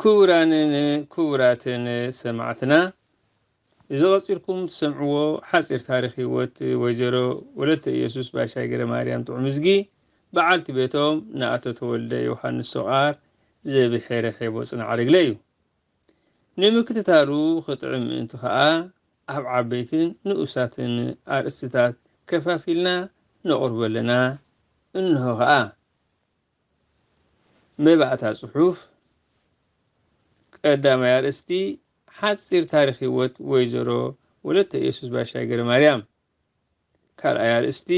ክቡራንን ክቡራትን ሰማዕትና እዚ ቀጺልኩም ትሰምዕዎ ሓጺር ታሪኽ ህይወት ወይዘሮ ወለተ ኢየሱስ ባሻይ ገረማርያም ጥዑምዝጊ በዓልቲ ቤቶም ንኣቶ ተወልደ ዮሃንስ ሶቓር ዘብሔረ ሔቦ ጽናዕርግለ እዩ። ንምክትታሉ ክጥዕም ምእንቲ ከኣ ኣብ ዓበይትን ንኡሳትን ኣርእስትታት ከፋፊልና ነቕርቦ ኣለና። እንሆ ከኣ። መባእታ ጽሑፍ ቀዳማይ ኣርእስቲ ሓጺር ታሪክ ህይወት ወይዘሮ ወለተ ኢየሱስ ባሻይ ገረ ማርያም ካልኣይ ኣርእስቲ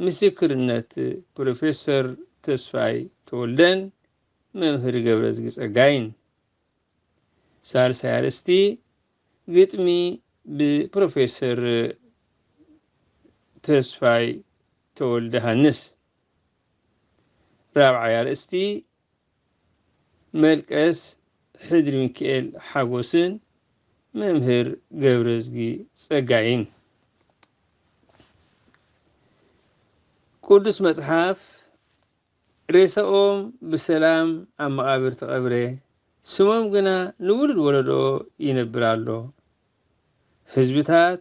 ምስክርነት ፕሮፌሰር ተስፋይ ተወልደን መምህር ገብረዝጊ ጸጋይን ሳልሳይ ኣርእስቲ ግጥሚ ብፕሮፌሰር ተስፋይ ተወልደ ሃንስ ራብዓይ ኣርእስቲ መልቀስ ሕድሪ ሚካኤል ሓጎስን መምህር ገብረዝጊ ጸጋይን ቅዱስ መጽሓፍ ሬሳኦም ብሰላም ኣብ መቓብር ተቐብረ፣ ስሞም ግና ንውሉድ ወለዶ ይነብር ኣሎ። ህዝብታት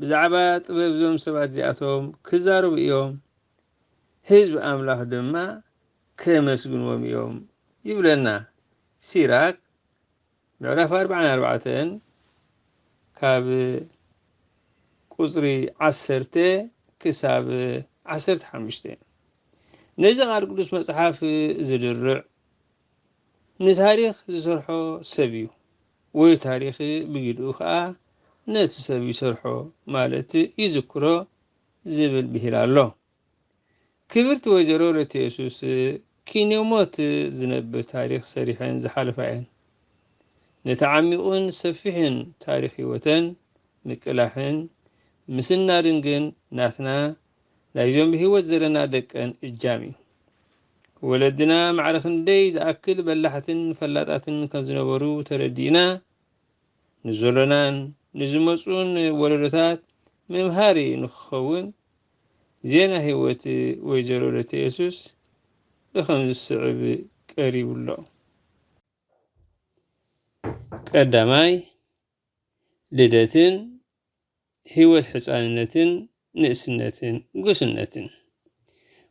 ብዛዕባ ጥበብ እዞም ሰባት እዚኣቶም ክዛረቡ እዮም። ህዝቢ ኣምላኽ ድማ ኬመስግንዎም እዮም ይብለና። ሲራክ ምዕራፍ ኣርብዓን ኣርባዕተን ካብ ቁጽሪ ዓሰርተ ክሳብ ዓሰርተ ሓሙሽተ ነዚ ቃል ቅዱስ መጽሓፍ ዝድርዕ ንታሪኽ ዝሰርሖ ሰብ እዩ ወይ ታሪኽ ብግድኡ ከዓ ነቲ ሰብ ይሰርሖ ማለት ይዝክሮ ዝብል ብሂል ኣሎ። ክብርቲ ወይዘሮ ረትየሱስ ኪንዮ ሞት ዝነብር ታሪኽ ሰሪሐን ዝሓለፋ እየን። ነቲ ዓሚቝን ሰፊሕን ታሪኽ ህይወተን ምቅላሕን ምስናድን ግን ናትና ናይዞም ብህይወት ዘለና ደቀን እጃም እዩ። ወለድና ማዕረ ክንደይ ዝኣክል በላሕትን ፈላጣትን ከም ዝነበሩ ተረዲእና ንዘሎናን ንዝመጽኡን ወለዶታት መምሃሪ ንክኸውን ዜና ህይወት ወይዘሮ ወለተ የሱስ ብከም ዝስዕብ ቀሪቡ ኣሎ። ቀዳማይ ልደትን ህይወት ሕጻንነትን ንእስነትን ጉስነትን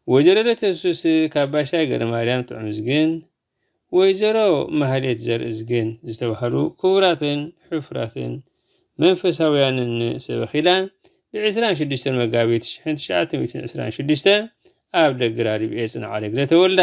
ወይዘሮ ደተሱስ ካባሻይ ገረማርያም ጥዑምዝግን ወይዘሮ ማህሌት ዘርእዝግን ዝተባህሉ ክቡራትን ሕፉራትን መንፈሳውያንን ሰበ ኺዳን ብዕስራን ሽዱሽተን መጋቢት ሽሕን ትሽዓተ ሚእትን ዕስራን ሽዱሽተን ኣብ ደግራ ሊብኤ ጽንዓሌግረ ተወልዳ።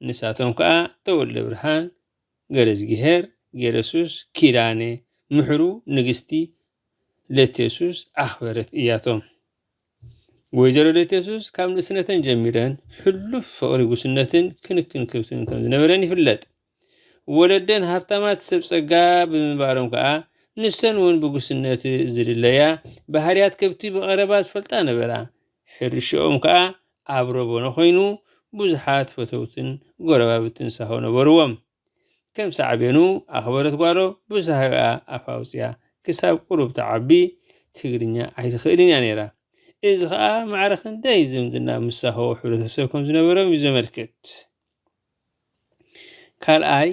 ንሳቶም ከኣ ተወልደብርሃን ገረዝጊሄር፣ ጌረሱስ፣ ኪዳነ ምሕሩ፣ ንግስቲ ለቴሱስ፣ ኣኽበረት እያቶም። ወይዘሮ ለቴሱስ ካብ ንእስነተን ጀሚረን ሕሉፍ ፍቕሪ ጉስነትን ክንክን ክብትን ከም ዝነበረን ይፍለጥ። ወለደን ሃብታማት ሰብ ጸጋ ብምንባሮም ከኣ ንሰን እውን ብጉስነት ዝድለያ ባህርያት ከብቲ ብቐረባ ዝፈልጣ ነበራ። ሕርሽኦም ከኣ ኣብ ረቦኖ ኮይኑ ብዙሓት ፈተውትን ጎረባብትን ሳሆ ነበርዎም። ከም ሳዕቤኑ ኣኽበረት ጓሮ ብሳሆኣ ኣፍ ኣውጺኣ ክሳብ ቁሩብ ትዓቢ ትግርኛ ኣይትኽእልን እያ ነይራ። እዚ ከኣ ማዕረ ክንደይ ዝምድና ምስ ሳሆ ሕብረተሰብ ከም ዝነበሮም እዩ ዘመልክት። ካልኣይ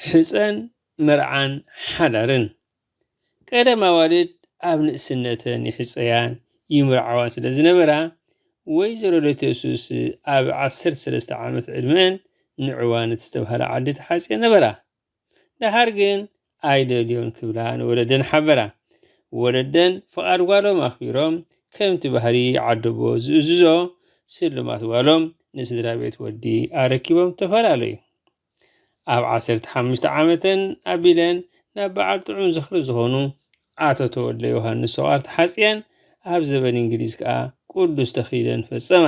ሕፀን መርዓን ሓዳርን ቀደም ኣዋልድ ኣብ ንእስነተን ይሕፀያን ይምርዓዋን ስለ ዝነበራ ወይዘሮ ለተሱስ ኣብ ዓሰርተ ሰለስተ ዓመት ዕድመን ንዕዋን ዝተብሃለ ዓዲ ተሓፅየን ነበራ። ደሓር ግን ኣይደልዮን ክብላ ንወለደን ሓበራ። ወለደን ፍቓድ ጓሎም ኣኽቢሮም ከምቲ ባህሪ ዓደቦ ዝእዝዞ ስልማት ጓሎም ንስድራ ቤት ወዲ ኣረኪቦም ተፈላለዩ። ኣብ ዓሰርተ ሓሙሽተ ዓመተን ኣቢለን ናብ በዓል ጥዑም ዝኽሪ ዝኾኑ ኣቶ ተወልደ ዮሃንስ ሰቋር ተሓጽየን ኣብ ዘበን እንግሊዝ ከኣ ቅዱስ ተኽሊለን ፈጸማ።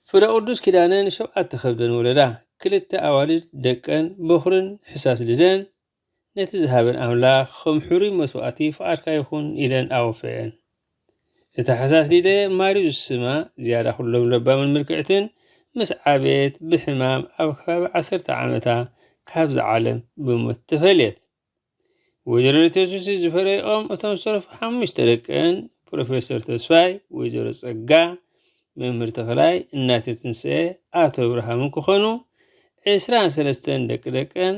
ፍረ ቅዱስ ኪዳነ ንሸውዓተ ከብደን ወለዳ፣ ክልተ ኣዋልድ ደቀን በዅርን ሕሳስ ልደን፣ ነቲ ዝሃበን ኣምላኽ ኸም ሕሩይ መስዋእቲ ፍቓድካ ይኹን ኢለን ኣወፈየን። እታ ሕሳስ ሊደ ማርዩ ዝስማ ዝያዳ ኹሎም ለባምን ምልክዕትን ምስ ዓበየት ብሕማም ኣብ ከባቢ ዓሰርተ ዓመታ ካብዚ ዓለም ብሞት ተፈልየት። ወይዘሮ ቴሱሲ ዝፈረይኦም እቶም ዝተረፉ ሓሙሽተ ደቀን ፕሮፌሰር ተስፋይ፣ ወይዘሮ ጸጋ፣ መምህር ተኽላይ፣ እናተ ትንስኤ፣ ኣቶ ብርሃምን ክኾኑ ዕስራን ሰለስተን ደቂ ደቀን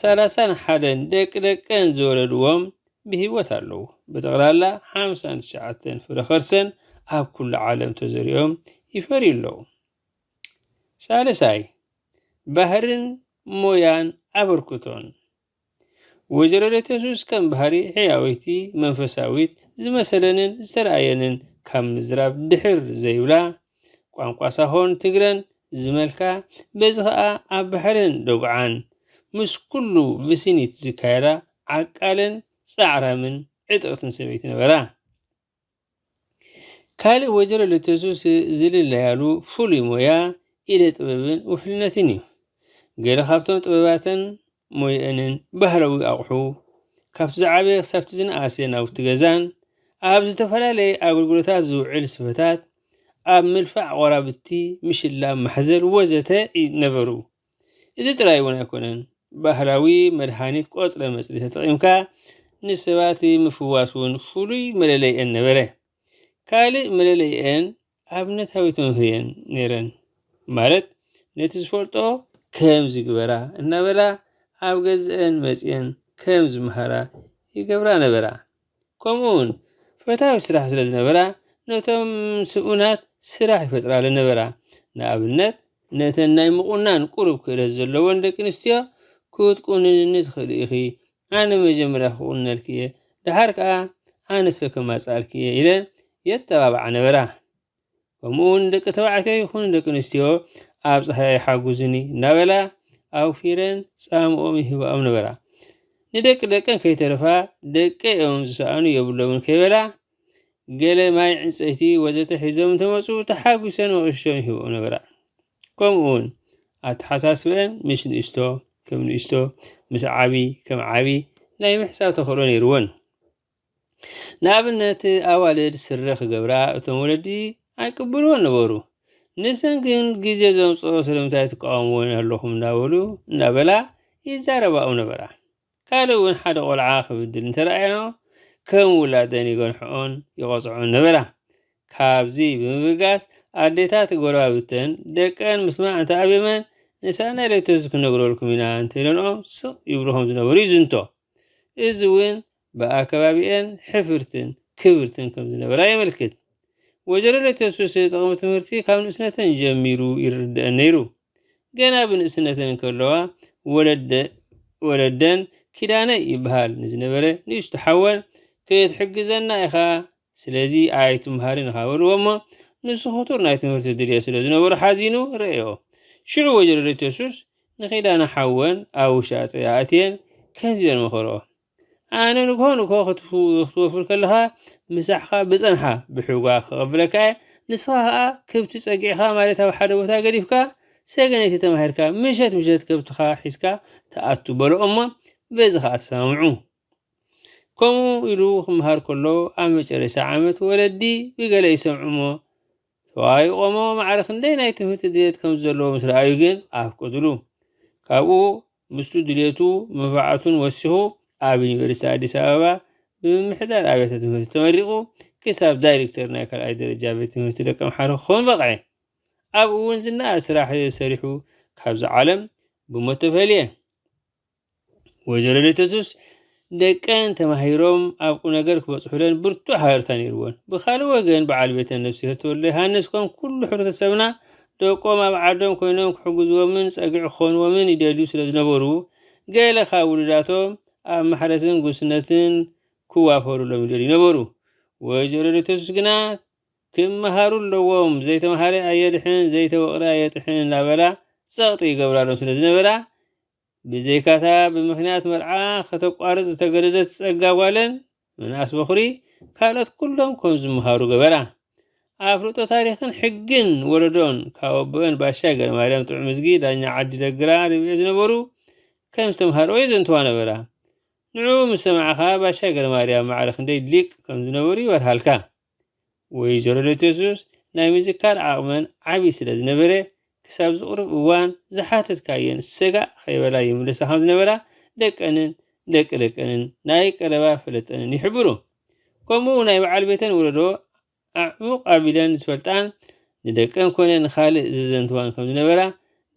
ሰላሳን ሓደን ደቂ ደቀን ዝወለድዎም ብህይወት ኣለዉ። ብጠቕላላ ሓምሳን ትሽዓተን ፍረ ኸርሰን ኣብ ኩሉ ዓለም ተዘሪኦም ይፈርዩ ኣለዉ። ሳልሳይ ባህርን ሞያን ኣበርክቶን ወይዘሮ ሬቴሱስ ከም ባህሪ ሕያወይቲ መንፈሳዊት ዝመሰለንን ዝተረኣየንን ካብ ምዝራብ ድሕር ዘይብላ ቋንቋ ሳሆን ትግረን ዝመልካ በዚ ከዓ ኣብ ባሕርን ዶግዓን ምስ ኩሉ ብሲኒት ዝካየዳ ዓቃልን ፃዕራምን ዕጥቕትን ሰበይቲ ነበራ። ካልእ ወይዘሮ ልተሱ ዝልለያሉ ፍሉይ ሞያ ኢደ ጥበብን ውሕልነትን እዩ። ገለ ካብቶም ጥበባተን ሞየአንን ባህላዊ ኣቑሑ ካብቲ ዝዓበየ ክሳብቲ ዝነኣሰ ናውቲ ገዛን ኣብ ዝተፈላለየ ኣገልግሎታት ዝውዕል ስፈታት ኣብ ምልፋዕ ቆራብቲ ምሽላብ ማሕዘል ወዘተ ነበሩ። እዚ ጥራይ እውን ኣይኮነን፣ ባህላዊ መድሃኒት ቆጽለ መጽሊ ተጠቒምካ ንሰባት ምፍዋስ እውን ፍሉይ መለለይኤን ነበረ። ካልእ መለለይኤን ኣብነታዊ ተምህርየን ነይረን ማለት ነቲ ዝፈልጦ ከም ዝግበራ እናበላ ኣብ ገዝአን መጽየን ከም ዝመሃራ ይገብራ ነበራ። ከምኡውን ፈታዊ ስራሕ ስለ ዝነበራ ነቶም ስኡናት ስራሕ ይፈጥራለን ነበራ። ንኣብነት ነተን ናይ ምቑናን ቁሩብ ክእለት ዘለወን ደቂ ኣንስትዮ ክትቁንንኒ ትኽእሊ ኢኺ፣ ኣነ መጀመርያ ክቑንነልኪ እየ፣ ደሓር ከኣ ኣነሰ ከማጽኣልኪ እየ ኢለን የተባብዓ ነበራ። ከምኡውን ደቂ ተባዕትዮ ይኹኑ ደቂ ኣንስትዮ ኣብ ፀሃያ ይሓጉዙኒ እናበላ ኣውፊረን ፃምኦም ይህባኦም ነበራ ንደቂ ደቀን ከይተረፋ ደቂ እዮም ዝሰኣኑ የብሎምን ከይበላ ገለ ማይ ዕንፀይቲ ወዘተ ሒዞም እንተመፁ ተሓጒሰን መቕሽቶም ይህብኦም ነበራ ከምኡ እውን ኣተሓሳስበአን ምስ ንእስቶ ከም ንእስቶ ምስ ዓብዪ ከም ዓብዪ ናይ ምሕሳብ ተኽእሎ ነይርወን ንኣብነት ኣዋልድ ስረ ክገብራ እቶም ወለዲ ኣይቅብልዎን ነበሩ። ንሰን ግን ግዜ ዘምፅኦ ስለምንታይ ትቃወምዎን ኣለኹም እንዳበሉ እንዳበላ ይዛረባኦም ነበራ። ካልእ እውን ሓደ ቆልዓ ክብድል እንተረኣየኖ ከም ውላደን ይገንሕኦን ይቐፅዖን ነበራ። ካብዚ ብምብጋስ ኣዴታት ጎረባብተን ደቀን ምስማዕ እንተኣብየመን ንሳእናይ ለይቶስ ክነግረልኩም ኢና እንተኢለንኦም ስቕ ይብልኹም ዝነበሩ ይዝንቶ። እዚ እውን ብኣከባቢኤን ሕፍርትን ክብርትን ከም ዝነበራ የመልክት። ወጀሮ ለተሱስ ጥቕሚ ትምህርቲ ካብ ንእስነተን ጀሚሩ ይርድእን ነይሩ። ገና ብንእስነተን እንከለዋ ወለደ ወለደን ኪዳነ ይበሃል ንዝነበረ ንእሽቶ ሓወን ክትሕግዘና ኢኻ ስለዚ ኣይትምሃርን ኢኻ በልዎ እሞ ንሱ ክቱር ናይ ትምህርቲ ድልየት ስለ ዝነበሮ ሓዚኑ ረእዮ። ሽዑ ወይዘሮ ደተሱስ ንኪዳነ ሓወን ኣብ ውሻጠ ኣእትየን ከምዚ ኢለን መኸርኦ። ኣነ ንግሆ ንግሆ ክትወፍር ከለኻ ምሳሕኻ ብጸንሓ ብሕጓ ክቐብለካ እየ፣ ንስኻ ከኣ ክብቲ ጸጊዕኻ ማለት ኣብ ሓደ ቦታ ገዲፍካ ሰገነይቲ ተማሂርካ ምሸት ምሸት ከብትኻ ሒዝካ ትኣቱ በሎ እሞ በዚ ከኣ ተሰማምዑ። ከምኡ ኢሉ ክምሃር ከሎ ኣብ መጨረሻ ዓመት ወለዲ ብገለ ይሰምዑሞ ተዋይቖሞ ማዕረ ክንደይ ናይ ትምህርቲ ድሌት ከም ዘለዎ ምስ ረኣዩ ግን ኣፍቀድሉ ካብኡ ምስቱ ድሌቱ መባዕቱን ወሲኹ ኣብ ዩኒቨርሲቲ ኣዲስ ኣበባ ብምምሕዳር ኣብያተ ትምህርቲ ተመሪቑ ክሳብ ዳይሬክተር ናይ ካልኣይ ደረጃ ቤት ትምህርቲ ደቂ ኣምሓሩ ክኸውን በቕዐ ኣብኡ እውን ዝነኣድ ስራሕ ሰሪሑ ካብዚ ዓለም ብሞት ተፈልየ ወይዘሮ ሌተሱስ ደቀን ተማሂሮም ኣብ ቁነገር ክበፅሑለን ብርቱዕ ሃረርታ ነይርዎን ብካልእ ወገን በዓል ቤተን ነፍስሄር ተወልደ ዮሃንስ ከም ኩሉ ሕብረተሰብና ደቆም ኣብ ዓዶም ኮይኖም ክሕግዝዎምን ፀግዒ ክኾንዎምን ይደልዩ ስለ ዝነበሩ ገለ ካብ ውሉዳቶም ኣብ ማሕረስን ጉስነትን ክዋፈሩሎም ይደልዩ ነበሩ። ወይዘሮ ሌተሱስ ግና ክመሃሩ ኣለዎም ዘይተምሃረ ኣየድሕን ዘይተወቕረ ኣየጥሕን እናበላ ጸቕጢ ይገብራሎም ስለ ዝነበራ ብዘይካታ ብምኽንያት መርዓ ከተቋርጽ ዝተገደደት ጸጋ ጓለን ምንኣስ በዅሪ ካልኦት ኩሎም ከም ዝመሃሩ ገበራ። ኣፍልጦ ታሪኽን ሕግን ወለዶን ካብ ኣቦኤን ባሻይ ገረማርያም ጥዑምዝጊ ዳኛ ዓዲ ደግራ ርብዒ ዝነበሩ ከም ዝተምሃርኦ የዘንትዋ ነበራ። ንዕኡ ምስ ሰማዕኻ ባሻይ ገረማርያም ማዕረ ክንደይ ሊቅ ከም ዝነበሩ ይበርሃልካ። ወይዘሮ ለተሱስ ናይ ምዝካር ዓቕመን ዓብዪ ስለ ዝነበረ ክሳብ ዝቕርብ እዋን ዝሓተትካየን ሰጋእ ከይበላ ይምለሳ ከም ዝነበራ ደቀንን ደቂ ደቀንን ናይ ቀረባ ፈለጠንን ይሕብሩ ከምኡ ናይ በዓል ቤተን ወለዶ ኣዕሙቕ ኣቢለን ዝፈልጣን ንደቀን ኮነ ንኻልእ ዘዘንትዋን ከም ዝነበራ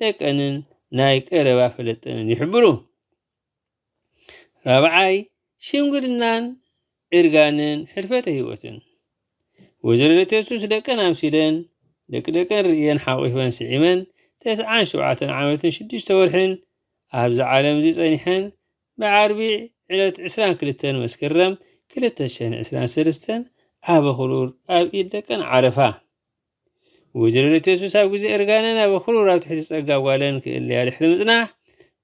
ደቀንን ናይ ቀረባ ፈለጠንን ይሕብሩ ራብዓይ ሽምግልናን እርጋንን ሕልፈተ ህይወትን ወይዘሮ ደተሱስ ደቀን ኣምሲለን ደቂ ደቀን ርእየን ሓቂፈን ስዒመን ተስዓን ሸውዓተን ዓመትን ሽዱሽተ ወርሕን ኣብዚ ዓለም እዚ ጸኒሐን ብዓርቢ ዕለት 22 መስከረም 2023 ኣብ ኣኽሩር ኣብ ኢድ ደቀን ዓረፋ። ወይዘሮ ደተሱስ ኣብ ግዜ እርጋነን ኣብ ክሩር ኣብ ትሕቲ ጸጋ ጓለን ክእለያ ድሕሪ ምጽናሕ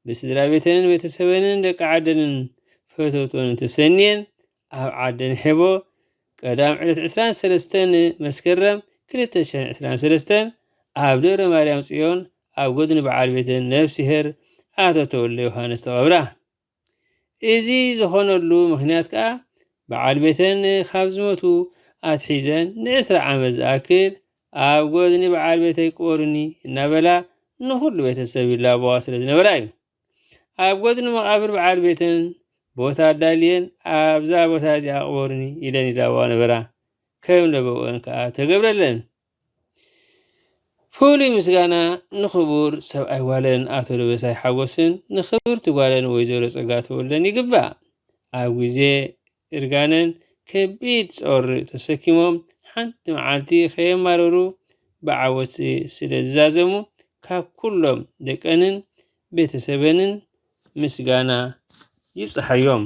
ብስድራ ቤተንን ቤተሰበንን ደቂ ዓደንን ፈተውቶንን ተሰንየን ኣብ ዓደን ሔቦ ቀዳም ዕለት 23 መስከረም 223 ኣብ ደብረ ማርያም ጽዮን ኣብ ጎድኒ በዓል ቤተን ነፍሲሄር ኣቶ ተወልደ ዮሃንስ ተቐብራ። እዚ ዝኾነሉ ምኽንያት ከኣ በዓል ቤተን ካብ ዝመቱ ኣትሒዘን ንዕስራ ዓመት ዝኣክል ኣብ ጎድኒ በዓል ቤተይ ቅበሩኒ እናበላ ንኹሉ ቤተሰብ ይላበዋ ስለ ዝነበራ እዩ። ኣብ ጎድኒ መቓብር በዓል ቤተን ቦታ ኣዳልየን ኣብዛ ቦታ እዚኣ ቅበሩኒ ኢለን ይላበዋ ነበራ። ከም ለበወን ከኣ ተገብረለን። ፍሉይ ምስጋና ንኽቡር ሰብኣይ ጓለን ኣቶ ደበሳይ ሓጎስን ንኽብርቲ ጓለን ወይዘሮ ጸጋ ተወልደን ይግባእ። ኣብ ግዜ እርጋነን ከቢድ ጾር ተሰኪሞም ሓንቲ መዓልቲ ከየማረሩ ብዓወት ስለ ዝዛዘሙ ካብ ኩሎም ደቀንን ቤተሰበንን ምስጋና ይብጽሓዮም።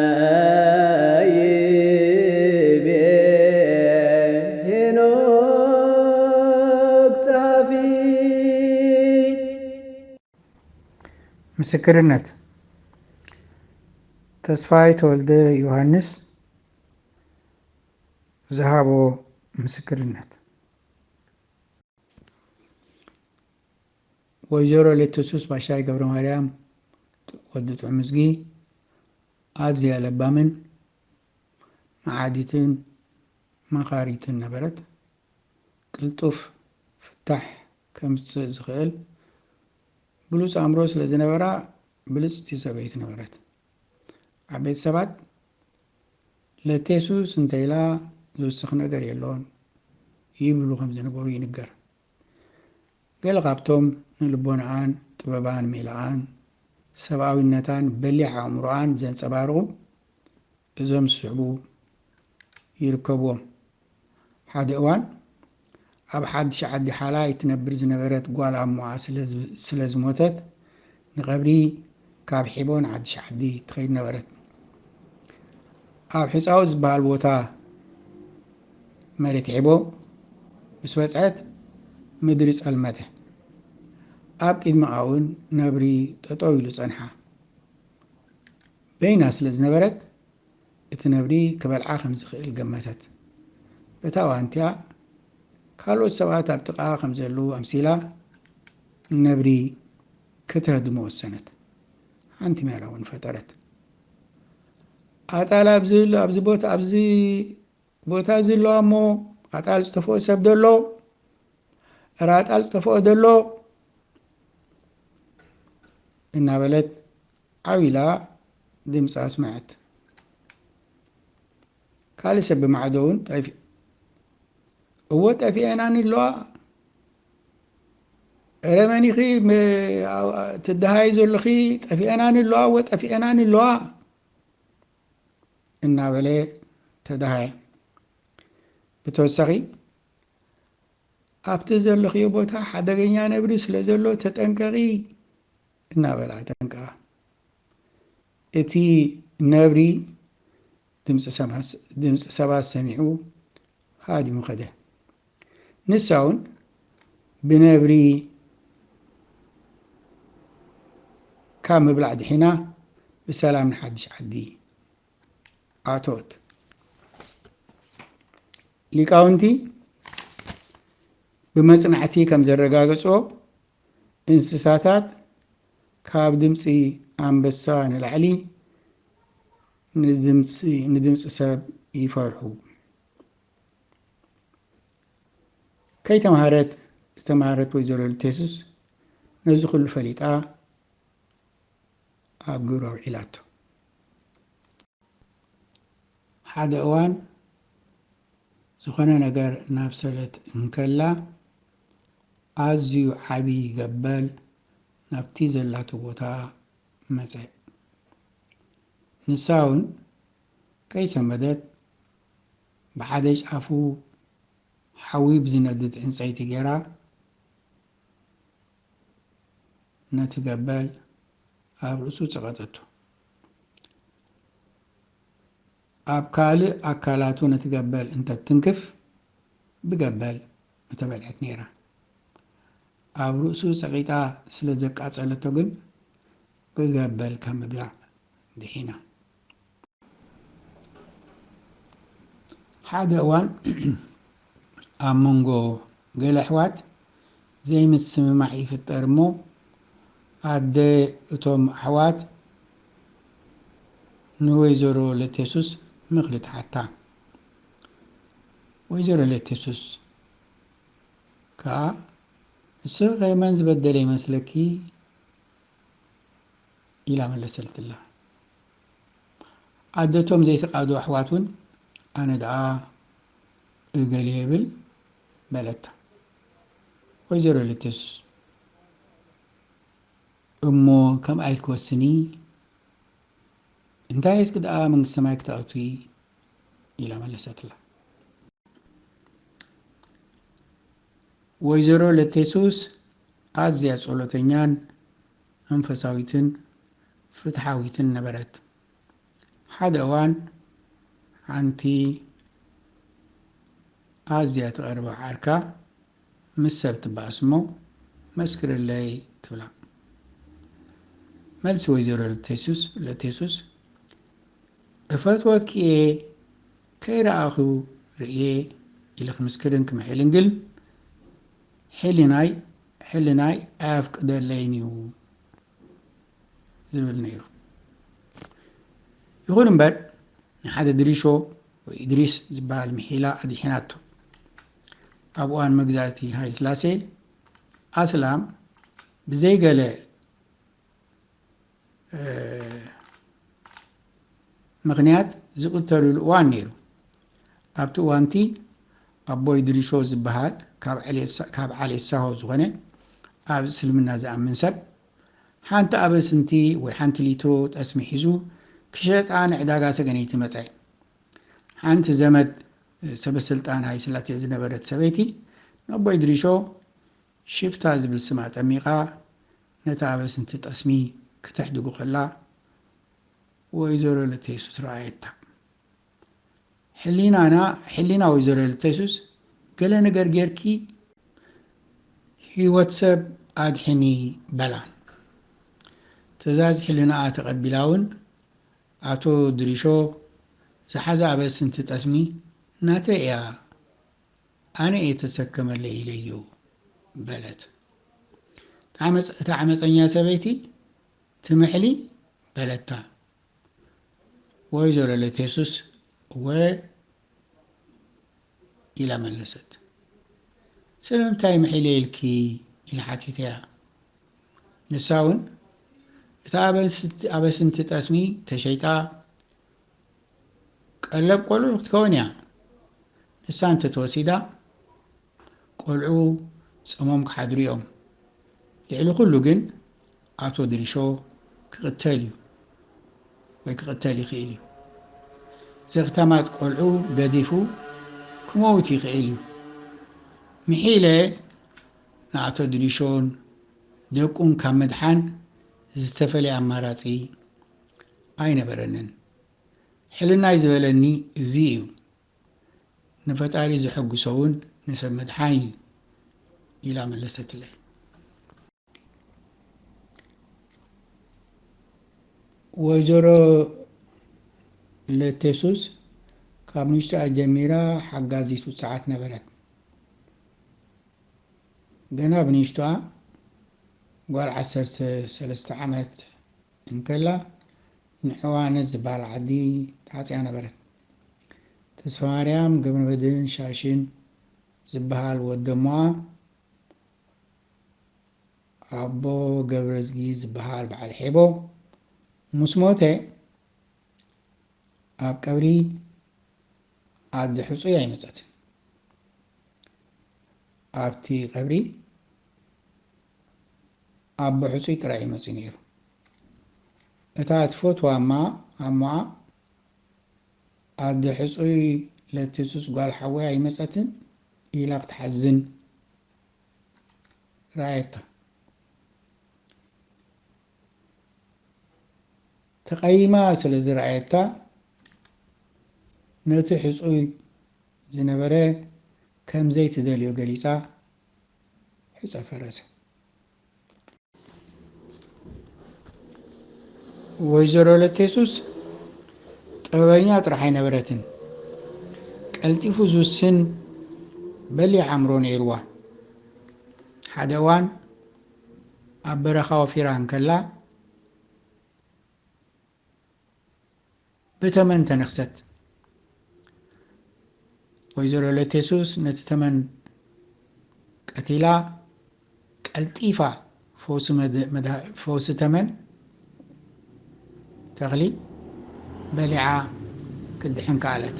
በከመይ ይቤ ሄኖክ ጸሓፊ። ምስክርነት ተስፋይ ተወልደ ዮሃንስ ዝሃቦ ምስክርነት። ወይዘሮ ሌትሱስ ባሻይ ገብረማርያም፣ ወዲ ጥዑምዝጊ፣ ኣዝያ ለባምን መዓዲትን መኻሪትን ነበረት። ቅልጡፍ ፍታሕ ከምጽእ ዝኽእል ብሉጽ ኣእምሮ ስለ ዝነበራ ብልጽቲ ሰበይቲ ነበረት። ኣብ ቤት ሰባት ለቴሱስ እንተኢላ ዝውስኽ ነገር የሎን ይብሉ ከም ዝነበሩ ይንገር። ገለ ካብቶም ንልቦናኣን ጥበባን ሜላኣን ሰብኣዊነታን በሊሕ ኣእምሮኣን ዘንጸባርቑ እዞም ዝስዕቡ ይርከብዎም። ሓደ እዋን ኣብ ሓድሽ ዓዲ ሓላይ ትነብር ዝነበረት ጓል ኣሞኣ ስለ ዝሞተት ንቀብሪ ካብ ሒቦ ንሓድሽ ዓዲ ትኸይድ ነበረት። ኣብ ሕጻኡ ዝበሃል ቦታ መሬት ሒቦ ምስ በጽሐት ምድሪ ጸልመተ። ኣብ ቂድመኣውን ነብሪ ጠጠው ኢሉ ጸንሓ። በይና ስለ ዝነበረት እቲ ነብሪ ክበልዓ ከም ዝኽእል ገመተት። በታ ዋንትያ ካልኦት ሰባት ኣብ ጥቃኣ ከም ዘለዉ ኣምሲላ፣ ነብሪ ከተህድሞ ወሰነት። ሓንቲ ሜላ እውን ፈጠረት። ኣጣል ኣብዚ ቦታ እዚ ኣለዋ እሞ ኣጣል ዝጠፍኦ ሰብ ዶ ኣሎ? እረ ኣጣል ዝጠፍኦ ዶ ኣሎ? እናበለት ዓው ኢላ ድምፂ ኣስመዐት። ካልእ ሰብ ብማዕዶ እውን ጠፊኡ። እወ ጠፊኤናኒ ኣለዋ እረ መን ኢኺ ትደሃይ ዘለኺ ጠፊኤናን ኣለዋ ወ ጠፊኤናን ኣለዋ እናበለ ተደሃየ ብተወሳኺ ኣብቲ ዘለኽዮ ቦታ ሓደገኛ ነብሪ ስለ ዘሎ ተጠንቀቒ እናበላ ደንገኣ። እቲ ነብሪ ድምጺ ሰባት ሰሚዑ ሃዲሙ ከደ። ንሳውን ብነብሪ ካብ ምብላዕ ድሒና ብሰላም ንሓድሽ ዓዲ ኣተወት። ሊቃውንቲ ብመጽናዕቲ ከም ዘረጋገጽዎ እንስሳታት ካብ ድምጺ ኣንበሳ ንላዕሊ ንድምጺ ሰብ ይፈርሑ። ከይተምሃረት ዝተማህረት ወይዘሮ ልቴሱስ ነዚ ኩሉ ፈሊጣ ኣብ ግብሪ ኣውዒላቶ። ሓደ እዋን ዝኾነ ነገር እናብሰለት እንከላ ኣዝዩ ዓቢ ገበል ናብቲ ዘላቶ ቦታ መጸ። ንሳውን ከይሰመደት ብሓደ ጫፉ ሓዊ ብዝነድድ ዕንጸይቲ ጌራ ነቲ ገበል ኣብ ርእሱ ጸቐጠቶ። ኣብ ካልእ ኣካላቱ ነቲ ገበል እንተትትንክፍ ብገበል ምተበልዐት ነይራ። ኣብ ርእሱ ጸቒጣ ስለ ዘቃጸለቶ ግን ብገበል ካብ ምብላዕ ድሒና። ሓደ እዋን ኣብ መንጎ ገለ ኣሕዋት ዘይምስምማዕ ይፍጠር እሞ ኣደ እቶም ኣሕዋት ንወይዘሮ ለቴሱስ ምኽሪ ትሓታ። ወይዘሮ ለቴሱስ ከኣ ንስኺኸ መን ዝበደለ ይመስለኪ? ኢላ መለሰትላ። ኣደ እቶም ዘይስቃዱ ኣሕዋት ውን ኣነ ደኣ እገሌ እብል በለታ። ወይዘሮ ልትስ እሞ ከምኣ ኢልኪ ወስኒ እንታይ እስኪ ደኣ መንግስቲ ሰማይ ክተእትዊ ኢላ መለሰትላ። ወይዘሮ ለቴሱስ ኣዝያ ጸሎተኛን መንፈሳዊትን ፍትሓዊትን ነበረት። ሓደ እዋን ሓንቲ ኣዝያ ትቐርባ ዓርካ ምስ ሰብ ትበኣስ እሞ መስክርለይ ትብላ። መልሲ ወይዘሮ ለቴሱስ እፈትወኪ እየ ከይረኣኹ ርእየ ኢለ ክምስክርን ክምሕልን ግን ሕሊናይ ሕልናይ ኣየፍቅደለይን እዩ ዝብል ነይሩ። ይኹን እምበር ንሓደ ድሪሾ ወይ እድሪስ ዝበሃል ምሒላ ኣድሒናቶ። ኣብ እዋን መግዛእቲ ሃይልስላሴ ኣስላም ብዘይገለ ምኽንያት ዝቕተልሉ እዋን ነይሩ። ኣብቲ እዋንቲ ኣቦይ ድሪሾ ዝበሃል ካብ ዓሌት ሳሆ ዝኾነ ኣብ እስልምና ዝኣምን ሰብ ሓንቲ ኣበስንቲ ወይ ሓንቲ ሊትሮ ጠስሚ ሒዙ ክሸጣ ንዕዳጋ ሰገነይቲ መፀ። ሓንቲ ዘመድ ሰበስልጣን ሃይስላሴ ዝነበረት ሰበይቲ ንኣቦይ ድሪሾ ሽፍታ ዝብል ስም ኣጠሚቓ ነታ ኣበስንቲ ጠስሚ ክተሕድጉ ከላ ወይዘሮ ለተየሱስ ረኣየታ። ሕሊናና ሕሊና ወይዘሮ ለተየሱስ ገለ ነገር ጌርኪ ህይወት ሰብ ኣድሕኒ በላ። ትእዛዝ ሕልናኣ ተቐቢላ እውን ኣቶ ድሪሾ ዝሓዛ ኣበስንቲ ጠስሚ ናተይ እያ ኣነ እየ ተሰከመለይ ኢለዮ በለት። እታ ዓመፀኛ ሰበይቲ ትምሕሊ በለታ። ወይዘሮ ለቴሱስ እወ ኢላ መለሰት። ስለምንታይ ምሒለ ኢልኪ ኢላ ሓቲተያ። ንሳ እውን እታ ኣበስንቲ ጠስሚ ተሸይጣ ቀለብ ቆልዑ ክትከውን እያ ንሳ እንተተወሲዳ ቆልዑ ጸሞም ክሓድሩ እዮም ልዕሊ ኩሉ ግን ኣቶ ድሪሾ ክቕተል እዩ ወይ ክቕተል ይኽእል እዩ ዘኽታማት ቆልዑ ገዲፉ ክመውት ይኽእል እዩ ምሒለ ንኣቶ ድሪሾን ደቁን ካብ ምድሓን ዝተፈለየ ኣማራጺ ኣይነበረንን። ሕልናይ ዝበለኒ እዚ እዩ። ንፈጣሪ ዘሐጉሶ'ውን ንሰብ ምድሓን እዩ ኢላ መለሰትለይ። ወይዘሮ ለቴሱስ ካብ ንእሽቶኣ ጀሚራ ሓጋዚት ውጽዓት ነበረት። ገና ብንእሽቶኣ ጓል ዓሰርተ ሰለስተ ዓመት እንከላ ንዕዋነት ዝብሃል ዓዲ ተዓጽያ ነበረት። ተስፋማርያም ገብረመድህን ሻሽን ዝብሃል ወደ'ሞኣ ኣቦ ገብረዝጊ ዝብሃል በዓል ሔቦ ምስ ሞተ ኣብ ቀብሪ ዓዲ ሕጹይ ኣይመጸትን። ኣብቲ ቀብሪ ኣብ ብሕጹይ ጥራይ እዩ መጺኡ ነይሩ። እታ እትፈትዋ እማ ኣሞኣ ኣብ ሕጹይ ለትጹጽ ጓል ሓወይ ኣይመጸትን ኢላ ክትሓዝን ረኣየታ። ተቐይማ ስለ ዝረኣየታ ነቲ ሕጹይ ዝነበረ ከም ዘይትደልዮ ገሊጻ ሑጻ ፈረሰ። ወይዘሮ ወለተየሱስ ጥበበኛ ጥራሕ ኣይነበረትን፣ ቀልጢፉ ዝውስን በሊሕ ኣእምሮ ነይሩዋ። ሓደ እዋን ኣብ በረኻ ወፊራ እንከላ ብተመን ተነኽሰት። ወይዘሮ ለቴሱስ ነቲ ተመን ቀቲላ ቀልጢፋ ፈውሲ ተመን ተኽሊ በሊዓ ክትድሕን ከኣለት።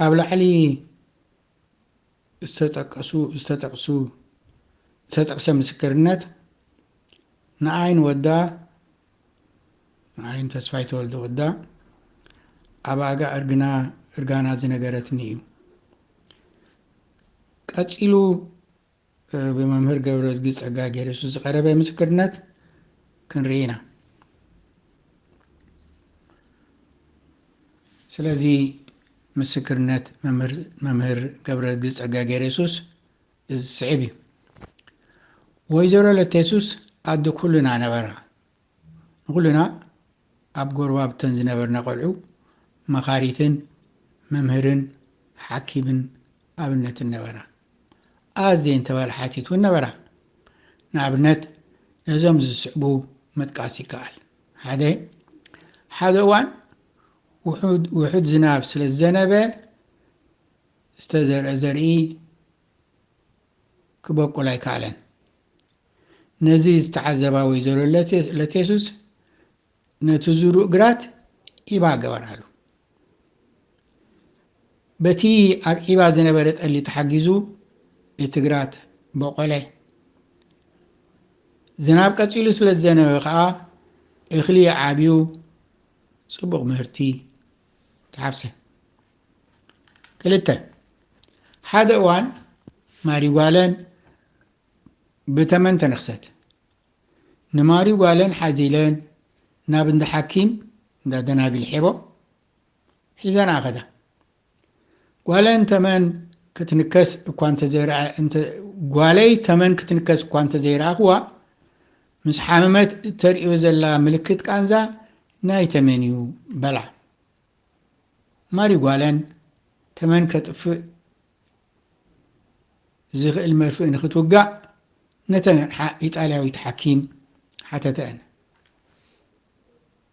ኣብ ላዕሊ ዝተጠቀሱ ዝተጠቅሱ ዝተጠቅሰ ምስክርነት ንኣይን ወዳ ንኣይን ተስፋይ ተወልደ ወዳ ኣብ ኣጋ እርግና እርጋና ዝነገረትኒ እዩ ቀጺሉ ብመምህር ገብረዝጊ ጸጋጊዮርጊስ ዝቐረበ ምስክርነት ክንርኢ ኢና። ስለዚ ምስክርነት መምህር ገብረዝጊ ጸጋጊዮርጊስ እዚ ዝስዕብ እዩ። ወይዘሮ ለተየሱስ ኣደ ኩልና ነበራ። ንኹልና ኣብ ጎረባብተን ዝነበርና ቆልዑ መኻሪትን መምህርን ሓኪምን ኣብነትን ነበራ። ኣዝየን ተበላሓቲት እውን ነበራ። ንኣብነት ነዞም ዝስዕቡ ምጥቃስ ይከኣል፣ ሓደ። ሓደ እዋን ውሑድ ውሑድ ዝናብ ስለ ዝዘነበ ዝተዘርአ ዘርኢ ክበቁል ኣይከኣለን። ነዚ ዝተዓዘባ ወይዘሮ ለቴሱስ ነቲ ዝሩእ ግራት ዒባ ገበራሉ። በቲ ኣብ ዒባ ዝነበረ ጠሊ ተሓጊዙ እቲ ግራት ቦቖለ። ዝናብ ቀጺሉ ስለ ዝዘነበ ከኣ እኽሊ ዓብዩ ጽቡቕ ምህርቲ ተሓፍሰ። ክልተ ሓደ እዋን ማሪጓለን ብተመን ተነኽሰት። ንማሪ ጓለን ሓዚለን ናብ እንዳ ሓኪም፣ እንዳ ደናግል፣ ሔቦ ሒዘንኣ ከዳ። ጓለን ተመን ክትንከስ እኳ እንተዘይረኣ እንተ ጓለይ ተመን ክትንከስ እኳ እንተዘይረኣኹዋ፣ ምስ ሓመመት እተርእዮ ዘላ ምልክት ቃንዛ ናይ ተመን'ዩ በላ። ማሪ ጓለን ተመን ከጥፍእ ዚኽእል መርፍእ ንኽትውጋእ ነተን ኣቕሓ ኢጣልያዊት ሓኪም ሓተተኣን።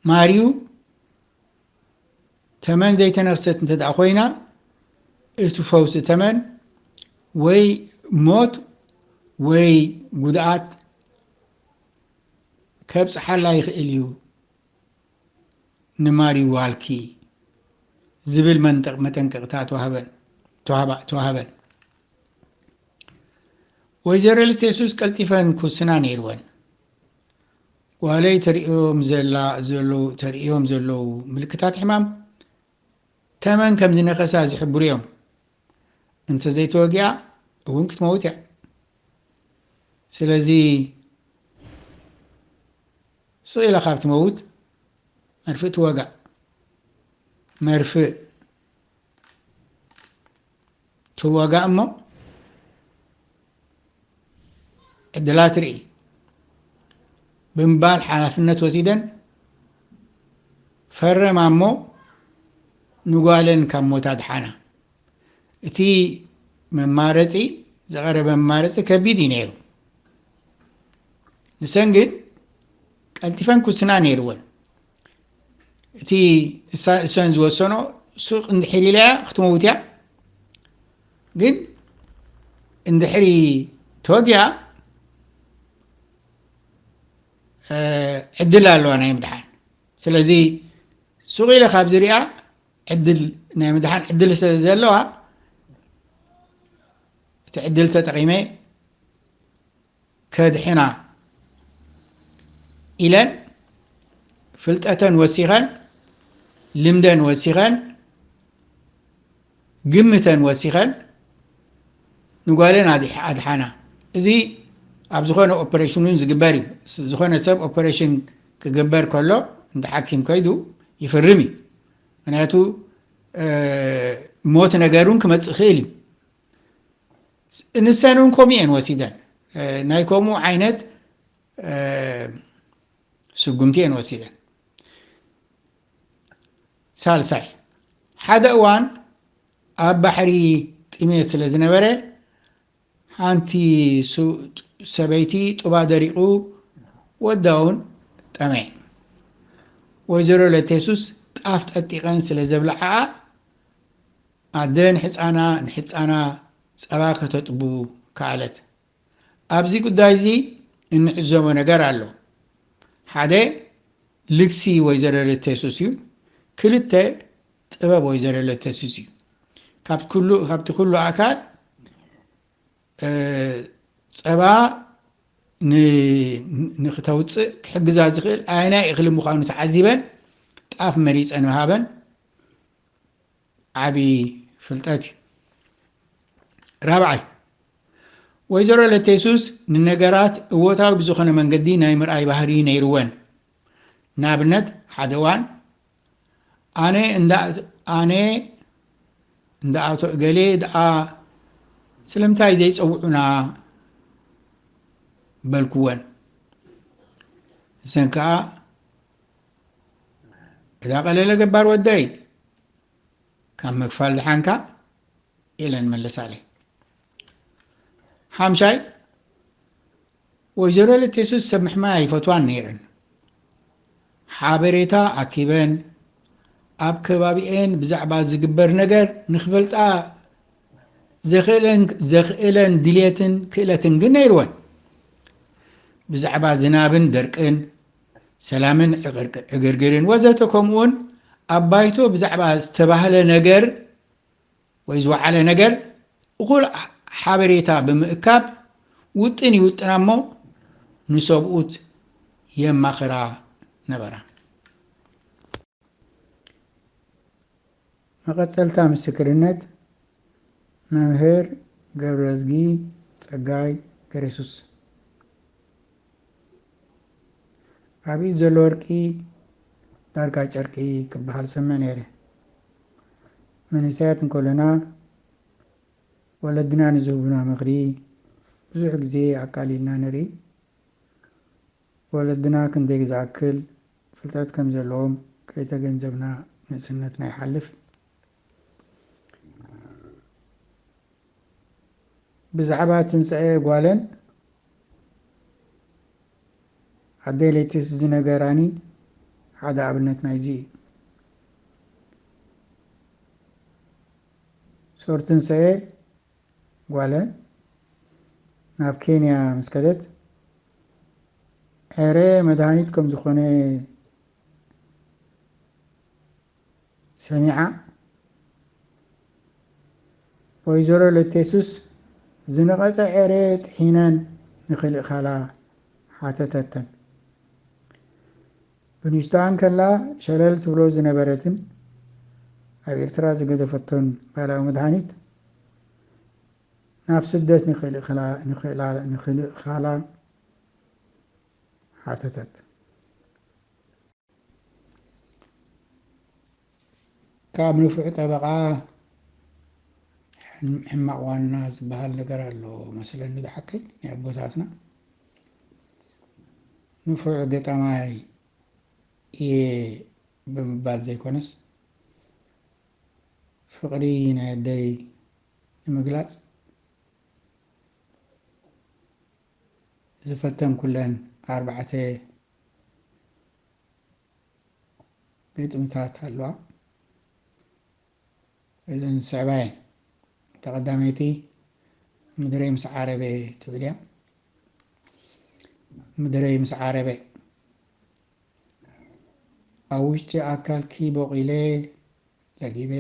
ማርዩ ተመን ዘይተነኽሰት እንተ ደኣ ዀይና፣ እቲ ፈውሲ ተመን ወይ ሞት ወይ ጕድኣት ከብጽሓላ ይኽእል እዩ። ንማሪ ዋልኪ ዝብል መንጠቕ መጠንቀቕታ ተዋህበን ተዋህባ ተዋህበን። ወይዘሮ ልቴሱስ ቀልጢፈን ክውስና ነይርወን። ጓለይ ተርእዮም ዘላ ዘለው ተርእዮም ዘለው ምልክታት ሕማም ተመን ከም ዝነኸሳ ዝሕብሩ እዮም። እንተዘይተወጊኣ እውን ክትመውት እያ። ስለዚ ስቕ ኢላ ካብ ትመውት መርፍእ ትወጋእ መርፍእ ትወጋእ እሞ ዕድላ ትርኢ ብምባል ሓላፍነት ወሲደን ፈረማ እሞ ንጓለን ካብ ሞት ኣድሓና እቲ መማረፂ ዝቐረበ መማረፂ ከቢድ እዩ ነይሩ ንሰን ግን ቀልጢፈን ኩስና ነይርወን እቲ እሰን ዝወሰኖ ሱቅ እንድሕር ኢለያ ክትመውት እያ ግን እንድሕሪ ተወጊኣ ዕድል ኣለዋ ናይ ምድሓን ስለዚ ሱቅ ኢለ ካብ ዝሪኣ ዕድል ናይ ምድሓን ዕድል ስለ ዘለዋ እቲ ዕድል ተጠቂመ ከድሕና ኢለን ፍልጠተን ወሲኸን ልምደን ወሲኸን ግምተን ወሲኸን ንጓለን ኣድሓና እዚ ኣብ ዝኾነ ኦፐሬሽን እውን ዝግበር እዩ ዝኾነ ሰብ ኦፐሬሽን ክግበር ከሎ እንተ ሓኪም ከይዱ ይፍርም እዩ ምክንያቱ ሞት ነገር እውን ክመፅእ ይኽእል እዩ ንሰን እውን ከምኡ እየን ወሲደን ናይ ከምኡ ዓይነት ስጉምቲ እየን ወሲደን ሳልሳይ ሓደ እዋን ኣብ ባሕሪ ጥሜት ስለ ዝነበረ ሓንቲ ሰበይቲ ጡባ ደሪቑ ወዳ እውን ጠመየ ወይዘሮ ለቴሱስ ጣፍ ጠጢቐን ስለ ዘብልዓኣ ኣደ ንሕጻና ንሕጻና ጸባ ከተጥቡ ከኣለት። ኣብዚ ጉዳይዚ እንዕዘቦ ነገር ኣሎ። ሓደ ልግሲ ወይዘሮ ለተሱስ እዩ። ክልተ ጥበብ ወይዘሮ ለተሱስ እዩ። ካብቲ ኩሉ ኣካል ጸባ ንክተውጽእ ክሕግዛ ዝኽእል ኣየናይ እኽሊ ምዃኑ ተዓዚበን ጣፍ መሪጸን ወሃበን። ዓቢ ፍልጠት እዩ። ራብዓይ፣ ወይዘሮ ለቴሱስ ንነገራት እወታዊ ብዝኾነ መንገዲ ናይ ምርኣይ ባህሪ ነይርወን። ንኣብነት ሓደ እዋን፣ ኣነ እንዳ ኣነ እንዳ ኣቶ እገሌ ደኣ ስለምንታይ ዘይጸውዑና? በልኩወን። ንሰን ከኣ እዛ ቀለለ ገባር ወደይ ካብ ምክፋል ድሓንካ ኢለን መለሳለይ ሓምሻይ ወይዘሮ ለቴሱስ ሰብ ምሕማይ ኣይፈትዋን ነይረን ሓበሬታ ኣኪበን ኣብ ከባቢኤን ብዛዕባ ዝግበር ነገር ንክፈልጣ ዘኽእለን ዘኽእለን ድልየትን ክእለትን ግን ነይርወን ብዛዕባ ዝናብን ደርቅን ሰላምን ዕግርግርን ወዘተ ከምኡውን ኣብ ባይቶ ብዛዕባ ዝተባህለ ነገር ወይ ዝወዓለ ነገር እኹል ሓበሬታ ብምእካብ ውጥን ይውጥና እሞ ንሰብኡት የማኽራ ነበራ። መቐጸልታ ምስክርነት መምህር ገብረዝጊ ጸጋይ ገሬሱስ ኣብ ኢድ ዘሎ ወርቂ ዳርጋ ጨርቂ ክበሃል ሰምዕ ነይረ። መንእሰያት እንከሎና ወለድና ንዝህቡና ምኽሪ ብዙሕ ግዜ ኣቃሊልና ንርኢ። ወለድና ክንደይ ግዝኣክል ፍልጠት ከም ዘለዎም ከይተገንዘብና ንእስነትና ይሓልፍ። ብዛዕባ ትንሳኤ ጓለን ኣደይ ለይቲስ ዝነገራኒ ሓደ ኣብነት ናይዚ እዩ። ሶር ትንሳኤ ጓለ ናብ ኬንያ ምስ ከደት ኤረ መድሃኒት ከም ዝኾነ ሰሚዓ ወይዘሮ ለቴሱስ ዝነቐጸ ኤረ ጥሒነን ንክልእካላ ሓተተተን። ብንእሽቶኣ እንከላ ሸለል ትብሎ ዝነበረትን ኣብ ኤርትራ ዝገደፈቶን ባህላዊ መድሃኒት፣ ናብ ስደት ንኽልእካላ ሓተተት። ካብ ንፉዕ ጠበቓ ሕማቕ ዋና ዝበሃል ነገር ኣሎ መስለኒ ዝሓቀይ ናይ ኣቦታትና ንፉዕ ገጣማይ እየ ብምባል ዘይኮነስ ፍቕሪ ናይ ኣደይ ንምግላፅ ዝፈተንኩለን ኣርባዕተ ግጥምታት ኣለዋ እዘን ዝስዕባ እየን እታ ቀዳመይቲ ምድረይ ምስ ዓረበ ትብል እያ ምድረይ ምስ ዓረበ ኣብ ውሽጢ ኣካልኪ ቦቂለ ለጊበ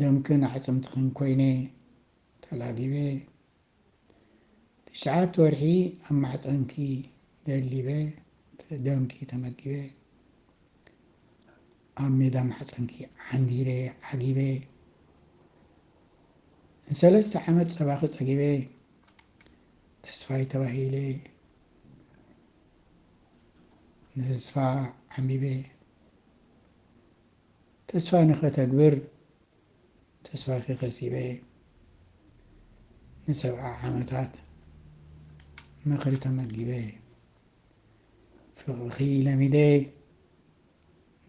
ደምክን ኣዕፅምትኽን ኮይነ ተላጊበ ትሽዓተ ወርሒ ኣብ ማሕጸንኪ ደሊበ ደምኪ ተመጊበ ኣብ ሜዳ ማሕጸንኪ ዓንዲረ ዓጊበ ንሰለስተ ዓመት ጸባኺ ጸጊበ ተስፋይ ተባሂለ ንተስፋ ዓምቢበ ተስፋ ንኸተግብር ተስፋኺ ከሲበ እየ። ንሰብዓ ዓመታት ምኽሪ ተመጊበ እየ። ፍቕርኺ ለሚደ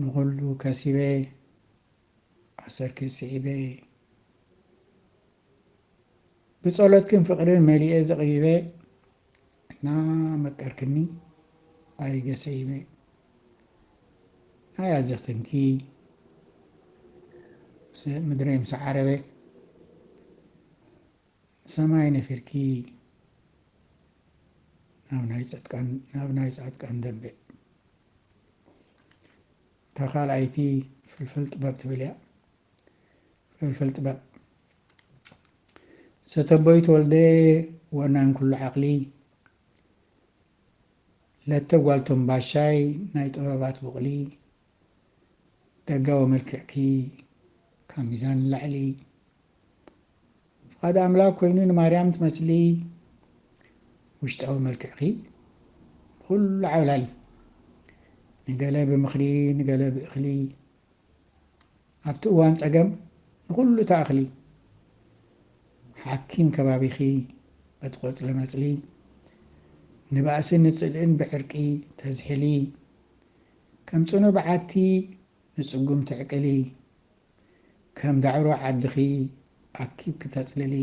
ንኹሉ ከሲበ ኣሰርኪ ስዒበ እየ። ብጸሎትክን ፍቅርን መሊኤ ዘቅቢበ እና መቀርክኒ ኣሪገ ሰይመ ናይ ኣዘክትንኪ ምስ ምድረይ ምስ ዓረበ ንሰማይ ነፊርኪ ናብ ናይ ጸጥቃን ናብ ናይ ጻድቃን ደንበ እታ ካልኣይቲ ፍልፍል ጥበብ ትብል እያ ፍልፍል ጥበብ ሰተቦይ ተወልደ ወናን ኩሉ ዓቕሊ ለተ ጓል ቶምባሻይ ናይ ጥበባት ቡቕሊ ደጋዊ መልክዕኪ ካብ ሚዛን ንላዕሊ ፍቓድ ኣምላክ ኮይኑ ንማርያም ትመስሊ ውሽጣዊ መልክዕኪ ንኹሉ ዓብላሊ ንገለ ብምኽሪ ንገለ ብእኽሊ ኣብቲ እዋን ጸገም ንኹሉ ትኣኽሊ ሓኪም ከባቢኺ በቲ ቆጽሊ መጽሊ ንባእሲ ንጽልእን ብዕርቂ ተዝሕሊ ከም ጽኑዕ በዓቲ ንጽጉም ትዕቅሊ ከም ዳዕሮ ዓድኺ ኣኪብኪ ተጽልሊ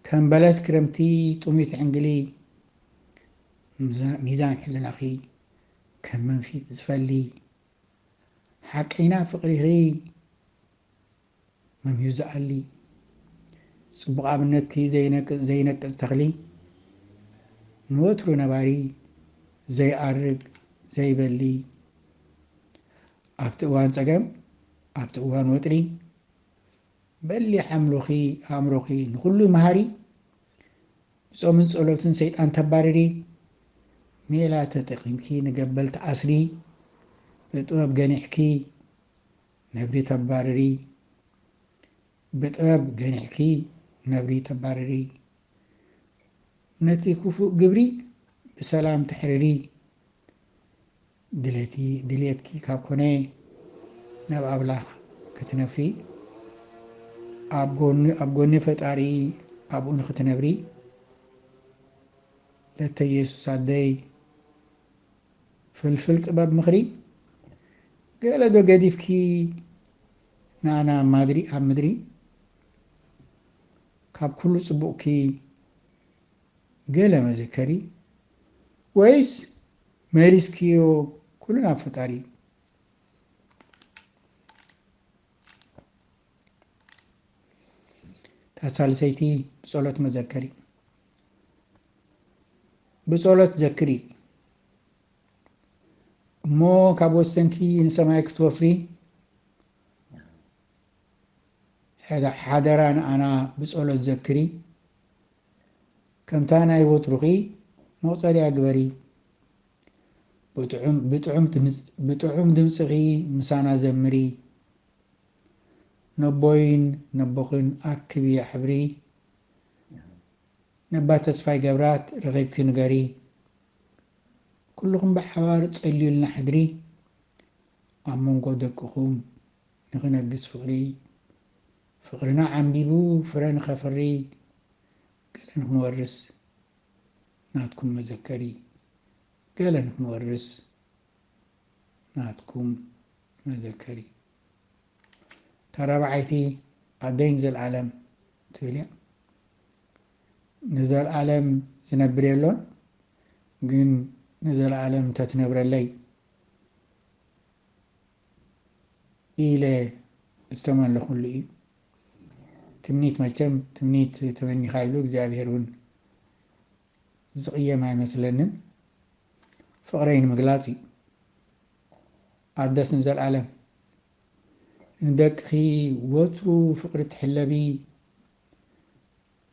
ከም በለስ ክረምቲ ጥሙይ ትዕንግሊ ሚዛን ሕልናኺ ከም መንፊት ዝፈሊ ሓቀይና ፍቅሪኺ መምዩ ዝኣሊ ጽቡቅ ኣብነትኪ ዘይነቅጽ ዘይነቅጽ ተኽሊ ንወትሩ ነባሪ ዘይኣርግ ዘይበሊ ኣብቲ እዋን ጸገም ኣብቲ እዋን ወጥሪ በሊሕ ኣምሎኺ ኣእምሮኺ ንኹሉ መሃሪ ብጾምን ጸሎትን ሰይጣን ተባርሪ ሜላ ተጠቂምኪ ንገበል ትኣስሪ ብጥበብ ገኒሕኪ ነብሪ ተባርሪ ብጥበብ ገኒሕኪ ነብሪ ተባርሪ ነቲ ክፉእ ግብሪ ብሰላም ተሕርሪ። ድሌቲ ድልየትኪ ካብ ኮነ ናብ ኣብላኽ ክትነፍሪ ኣብ ጎኑ ኣብ ጎኒ ፈጣሪ ኣብኡ ንክትነብሪ ለተ የሱስ ኣደይ ፍልፍል ጥበብ ምኽሪ ገለ ዶ ገዲፍኪ ንኣና ማድሪ ኣብ ምድሪ ካብ ኩሉ ጽቡቕኪ ገለ መዘከሪ ወይስ መሊስክዮ ኩሉ ናብ ፈጣሪ እዩ። እታ ሳልሰይቲ ብጸሎት መዘከሪ ብጸሎት ዘክሪ እሞ ካብ ወሰንኪ ንሰማይ ክትወፍሪ ሓደራ ንኣና ብጸሎት ዘክሪ ከምታ ናይ ወትሩኺ መቁጸሪያ ግበሪ ብጥዑም ድምጽኺ ምሳና ዘምሪ ነቦይን ነቦኽን ኣክቢ ኣሕብሪ ነባ ተስፋይ ገብራት ረኺብኪ ንገሪ ኩሉኹም ብሓባር ጸልዩልና ሕድሪ ኣብ መንጎ ደቅኹም ንኽነግስ ፍቕሪ ፍቕርና ዓምቢቡ ፍረ ንኸፍሪ ገለ ንኽንወርስ ናትኩም መዘከሪ ገለ ንኽንወርስ ናትኩም መዘከሪ እታ ራብዓይቲ ኣደይን ዘልኣለም ትብል እያ ንዘልኣለም ዝነብር የሎን ግን ንዘልኣለም ተትነብረለይ ኢለ ዝተመለኹሉ እዩ። ትምኒት መቸም ትምኒት ተመኒኻ ኢሉ እግዚኣብሄር እውን ዝቕየም ኣይመስለንን። ፍቕረይ ንምግላፅ እዩ። ኣደስ ንዘልኣለም ንደቅኺ ወትሩ ፍቕሪ ትሕለቢ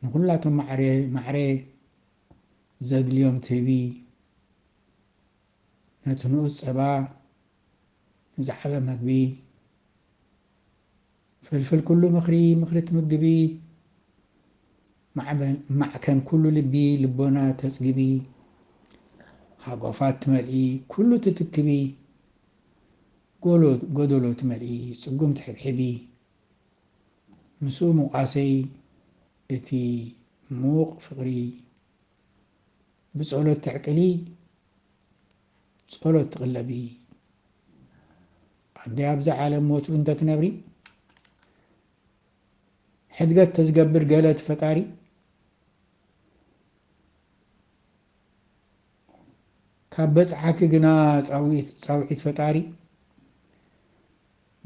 ንኹላቶም ማዕረ ማዕረ ዘድልዮም ትህቢ ነቲ ንኡስ ፀባ ንዝዓበ መግቢ ፍልፍል ኩሉ ምኽሪ ምኽሪ ትምግቢ ማዕከን ኩሉ ልቢ ልቦና ተጽግቢ ሃጓፋት ትመልኢ ኩሉ ትትክቢ ጎዶሎ ትመልኢ ጽጉም ትሕብሕቢ ምስኡ ምቋሰይ እቲ ምዉቕ ፍቕሪ ብጸሎት ተዕቅሊ ጸሎት ትቅለቢ ኣደይ ኣብዚ ዓለም ሞት እንተ ትነብሪ ሕድገት ተዝገብር ገለ እቲ ፈጣሪ ካብ በጽሓኪ ግና ጻዊት ጻውዒት ፈጣሪ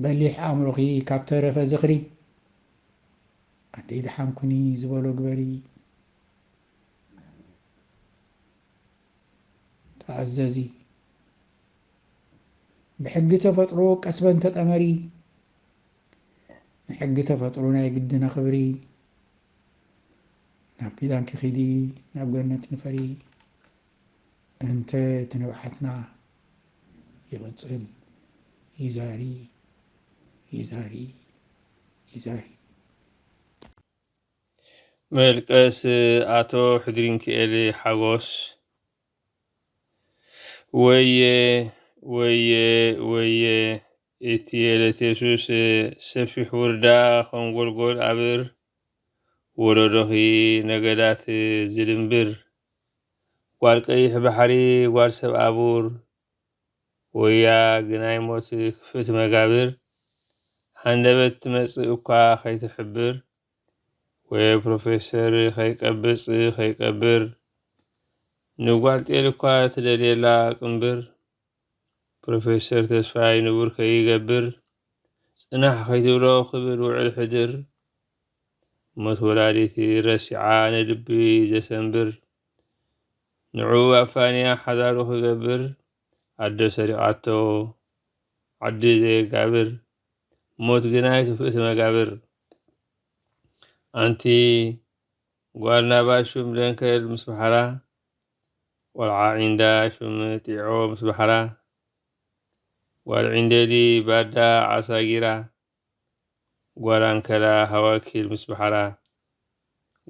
በሊሕ ኣእምሮኺ ካብ ተረፈ ዝኽሪ ኣደይ ደሓን ኩኒ ዝበሎ ግበሪ ተኣዘዚ ብሕጊ ተፈጥሮ ቀስበን ተጠመሪ ንሕጊ ተፈጥሮ ናይ ግድን ኣኽብሪ ናብ ኪዳንኪ ኺዲ ናብ ገነት ንፈሪ እንተ እቲ ንብዓትና ይቕፅል ይዛሪ ይዛሪ ይዛሪ መልቀስ ኣቶ ሕድሪንኪኤል ሓጎስ ወየ ወየ ወየ እቲ የለት የሱስ ሰፊሕ ውርዳ ኸም ጎልጎል ኣብር ወለዶኺ ነገዳት ዝድንብር ጓል ቀይሕ ባሕሪ ጓል ሰብ ኣቡር ወያ ግናይ ሞት ክፍእቲ መጋብር ሃንደበት ትመጽእ እኳ ከይትሕብር ወየ ፕሮፌሰር ከይቀብጽ ከይቀብር ንጓል ጤል እኳ ትደልየላ ቅንብር ፕሮፌሰር ተስፋይ ንቡር ከይገብር ጽናሕ ከይትብሎ ክብል ውዕል ሕድር ሞት ወላዲት ረሲዓ ንልቢ ዘሰንብር ንዕኡ ኣፋንያ ሓዳሩ ክገብር ኣደ ሰሪቓቶ ዓዲ ዘየጋብር ሞት ግና ኣይክፍእቲ መጋብር ኣንቲ ጓል ናባ ሹም ደንከል ምስ በሓራ ቆልዓ ዒንዳ ሹም ጢዖ ምስ በሓራ ጓል ዒንደዲ ባዳ ዓሳ ጊራ ጓል ኣንከላ ሃዋኪል ምስ ባሕራ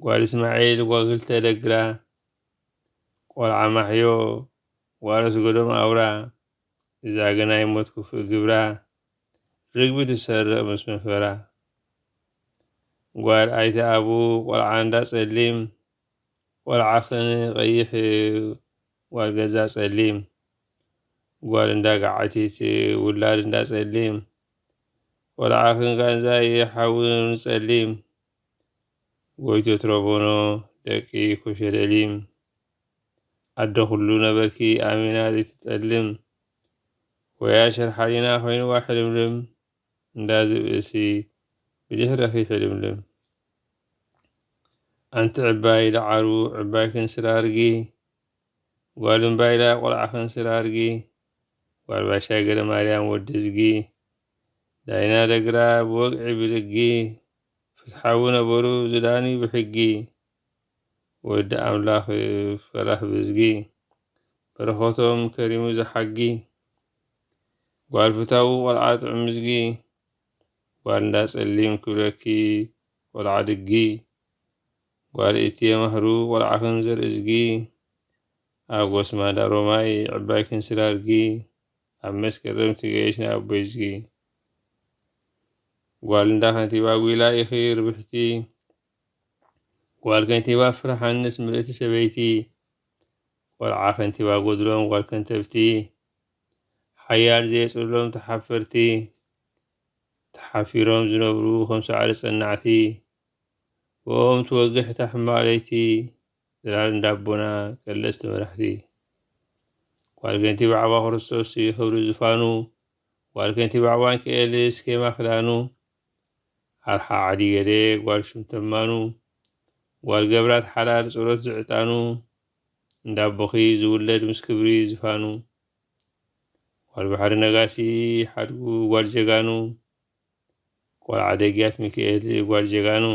ጓል እስማዒል ጓል ክልተ ደግራ ቆልዓ ማሕዮ ጓል ኣስገዶም ኣውራ እዛ ግን ኣይሞት ክፉእ ግብራ ርግቢ ትሰርቕ ምስ መፈራ ጓል ኣይተ ኣቡ ቆልዓ እንዳ ጸሊም ቆልዓ ክን ቀይሕ ጓል ገዛ ጸሊም ጓል እንዳ ገዓቲት ውላድ እንዳ ጸሊም ቆልዓ ክንካ እንዛይ ሓዊ ንጸሊም ጎይቶ ትረቦኖ ደቂ ኮሸለሊም ኣደ ኩሉ ነበርኪ ኣሚና ዘይትጠልም ወያ ሸርሓሊና ኮይንዋ ሕልምልም እንዳ ዝብእሲ ብድሕረኺ ሕልምልም ኣንቲ ዕባይ ዳዓሩ ዕባይ ክንስራ ኣርጊ ጓል እምባይላ ቆልዓ ክንስራ ኣርጊ ዋልባሻይ ገረማርያም ወዲዝጊ፣ ዳይና ደግራ ብወግዒ ብልጊ፣ ፍትሓዊ ነበሩ ዝዳንዩ ብሕጊ፣ ወዲ ኣምላኽ ፈራሕ ብዝጊ፣ በረኸቶም ከሪሙ ዝሓጊ፣ ጓል ፍታዊ ቆልዓ ጥዑምዝጊ፣ ጓል እንዳ ጸሊም ክብለኪ ቆልዓ ድጊ፣ ጓል እትየ ማህሩ ቆልዓኽን ዘርእዝጊ፣ ኣብ ጎስማዳ ሮማይ ዕባይ ክንስር ኣድጊ ኣብ መስከረም ትገየሽ ናይ ኣቦይ ዝጊ ጓል እንዳ ከንቲባ ጒላ ኢኺ ርብሕቲ ጓል ከንቲባ ፍርሓንስ ምልእቲ ሰበይቲ ቆልዓ ከንቲባ ጎድሎም ጓል ከንተብቲ ሓያል ዘየፅሎም ተሓፈርቲ ተሓፊሮም ዝነብሩ ከም ሳዕሪ ፀናዕቲ ብኦም ትወግሕ እታ ሕማቕ ለይቲ ጽላል እንዳ ኣቦና ቀለስቲ መራሕቲ ጓል ገንቲ ባዕባ ክርስቶስ እዩ ክብሪ ዝፋኑ ጓል ገንቲ ባዕባን ክኤሊ ስኬማ ክዳኑ ኣርሓ ዓዲ ገሌ ጓል ሹም ተማኑ ጓል ገብራት ሓላል ጸሎት ዝዕጣኑ እንዳ ኣቦኺ ዝውለድ ምስ ክብሪ ዝፋኑ ጓል ባሕሪ ነጋሲ ሓድጉ ጓል ጀጋኑ ቆልዓ ደግያት ሚኪኤል ጓል ጀጋኑ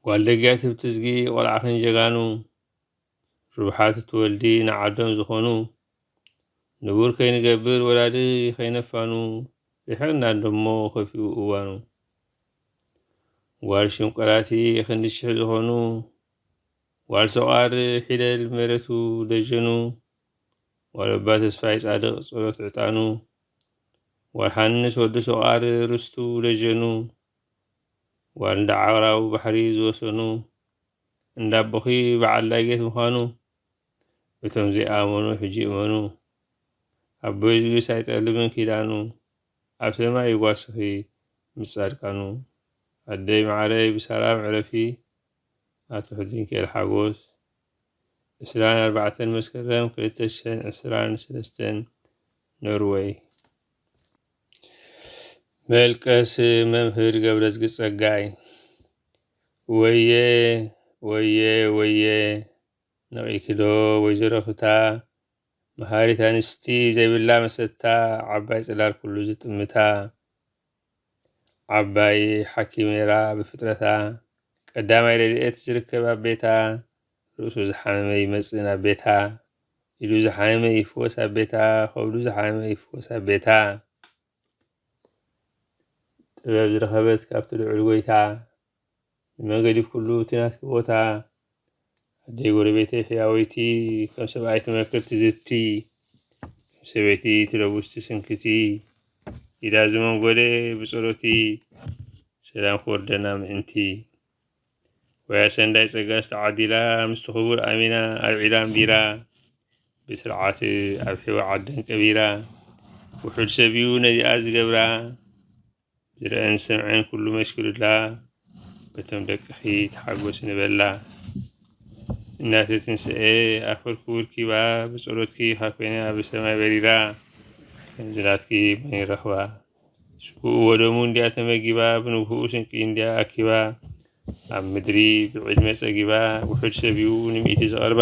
ጓል ደግያት ብትዝጊ ቆልዓኽን ጀጋኑ ርብሓት እትወልዲ ንዓዶም ዝኾኑ ንቡር ከይንገብር ወላዲ ከይነፋኑ ድሕርና ደሞ ከፊኡ እዋኑ ጓል ሽንቆራቲ ክንዲ ሽሕ ዝኾኑ ጓል ሰቋር ሒደል መሬቱ ደጀኑ ወለባ ተስፋይ ጻድቕ ጸሎት ዕጣኑ፣ ወርሃንስ ወዲ ሶቓር ርስቱ ደጀኑ፣ ጓል እንዳ ዓራው ባሕሪ ዝወሰኑ፣ እንዳ ኣቦኺ በዓል ዳጌት ምዃኑ፣ እቶም ዘይኣመኑ ሕጂ እመኑ፣ ኣቦይ ዝብልስ ኣይጠልምን ኪዳኑ፣ ኣብ ሰማይ ይጓስኺ ምስ ጻድቃኑ፣ ኣደይ መዓረይ ብሰላም ዕረፊ፣ ኣቶ ሕድሪንኬል ሓጎስ። ዕስራን ኣርባዕተን መስከረም ክልተ ሽሕን ዕስራን ሰለስተን ኖርወይ መልቀስ መምህር ገብረዝጊ ጸጋይ ወየ ወየ ወየ ነቒክዶ ወይዘሮ ፍታ መሃሪት ኣንስቲ ዘይብላ መሰታ ዓባይ ጽላል ኩሉ ዝጥምታ ዓባይ ሓኪሜራ ብፍጥረታ ቀዳማይ ረድኤት ዝርከብ ኣብ ቤታ ርእሱ ዝሓመመ ይመጽእ ናብ ቤታ ኢዱ ዝሓመመ ይፍወስ ኣብ ቤታ ከብዱ ዝሓመመ ይፍወስ ኣብ ቤታ ጥበብ ዝረኸበት ካብቲ ልዑል ጎይታ ንመገዲ ኩሉ እቲ ናትኪ ቦታ ኣደይ ጎረቤተይ ሕያወይቲ ከም ሰብኣይ ትመክር ትዝቲ ከም ሰበይቲ ትለውስ ትስንክቲ ኢዳ ዝመንጎደ ብጸሎቲ ሰላም ክወርደና ምእንቲ ወያ ሰንዳይ ጸጋ ዝተዓዲላ ምስቲ ክቡር ኣሚና ኣብ ዒላ ኣንቢራ ብስርዓት ኣብ ሕዋ ዓደን ቀቢራ ውሑድ ሰብዩ ነዚኣ ዝገብራ ዝረኣን ዝሰምዐን ኩሉ መስክሩላ በቶም ደቅኺ ተሓጎሲ ንበላ እናተ ትንስኤ ኣፈርኩ ውርኪባ ብጸሎትኪ ካኮይና ኣብ ሰማይ በሪራ ከምዝናትኪ መን ይረኽባ ስጉኡ ወደሙ እንዲያ ተመጊባ ብንግህኡ ስንቂ እንዲያ ኣኪባ ኣብ ምድሪ ብዕድመ ጸጊባ ውሑድ ሰብዩ ንሚእቲ ዝቐርባ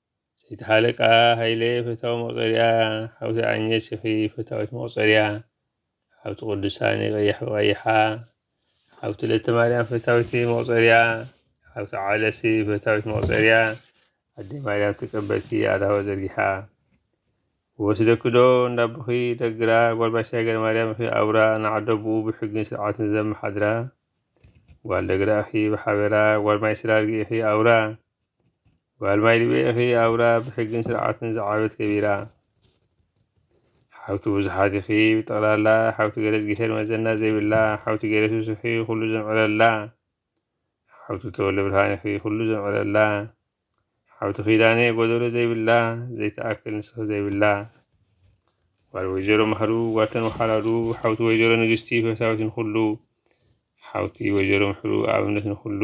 ሰይቲ ሃለቃ ሃይለ ፈታዊ መቁጸርያ ሓውቲ ኣኘሲኺ ፈታዊት መቁጸርያ ሓውቲ ቁዱሳኒ ቀያሕ ብቀይሓ ሓውቲ ለተማርያም ፈታዊቲ መቁጸርያ ሓውቲ ዓለሲ ፈታዊት መቁጸርያ ኣደይ ማርያም ተቀበልኪ ኣዳዋ ዘርጊሓ ወስደኪ ዶ እንዳቦኺ ደግራ ጓል ባሻይ ገረማርያም ኢኺ ኣውራ ንዓዶ ብኡ ብሕግን ስርዓትን ዘመሓድራ ጓል ደግራ ኢኺ ብሓበራ ጓል ማይ ስራርጊ ኢኺ ኣውራ ጓል ማይ ድቤኢኺ ኣውራ ብሕግን ስርዓትን ዝዓበት ከቢራ ሓውቲ ብዙሓት ኢኺ ብጠቕላላ ሓውቲ ገለጽ ጊሄር መዘና ዘይብላ ሓውቲ ገለሱስ ኢኺ ኩሉ ዘምዕረላ ሓውቲ ተወለ ብርሃን ኢኺ ኩሉ ዘምዕረላ ሓውቲ ኪዳነ ጎደሎ ዘይብላ ዘይትኣክል ንስኺ ዘይብላ ጓል ወይዘሮ ማህሩ ጓልተን ወሓላሉ ሓውቲ ወይዘሮ ንግስቲ ፈታዊት ንኹሉ ሓውቲ ወይዘሮ ምሕሩ ኣብነት ንኹሉ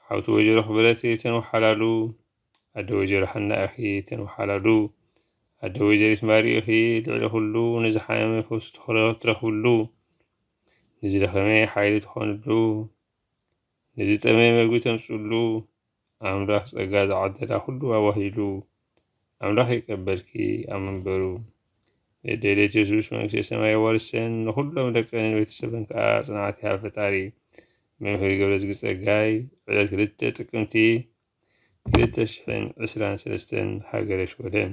ሓውቲ ወጀሮ ክብረተይ ተንውሓላሉ ኣደ ወጀሮ ሓና ኢኺ ተንውሓላሉ ኣደ ወጀሪት ማሪ ኢኺ ልዕሊ ኩሉ ንዝሓመመ ፈውሲ ትረኽብሉ ንዝደኸመ ሓይሊ ትኾንሉ ንዝጠመ መግቢ ተምፅሉ ኣምላኽ ፀጋ ዝዓደላ ኩሉ ኣዋሂሉ ኣምላኽ ይቀበልኪ ኣብ መንበሩ ደደሌት የሱስ መንግስተ ሰማይ ወርሰን ንኹሎም ደቀንን ቤተሰብን ከዓ ጽንዓት ይሃብ ፈጣሪ መምህር ገብረዝጊ ጸጋይ ዕለት ክልተ ጥቅምቲ ክልተ ሽሕን ዕስራን ሰለስተን ሃገረ ሽወደን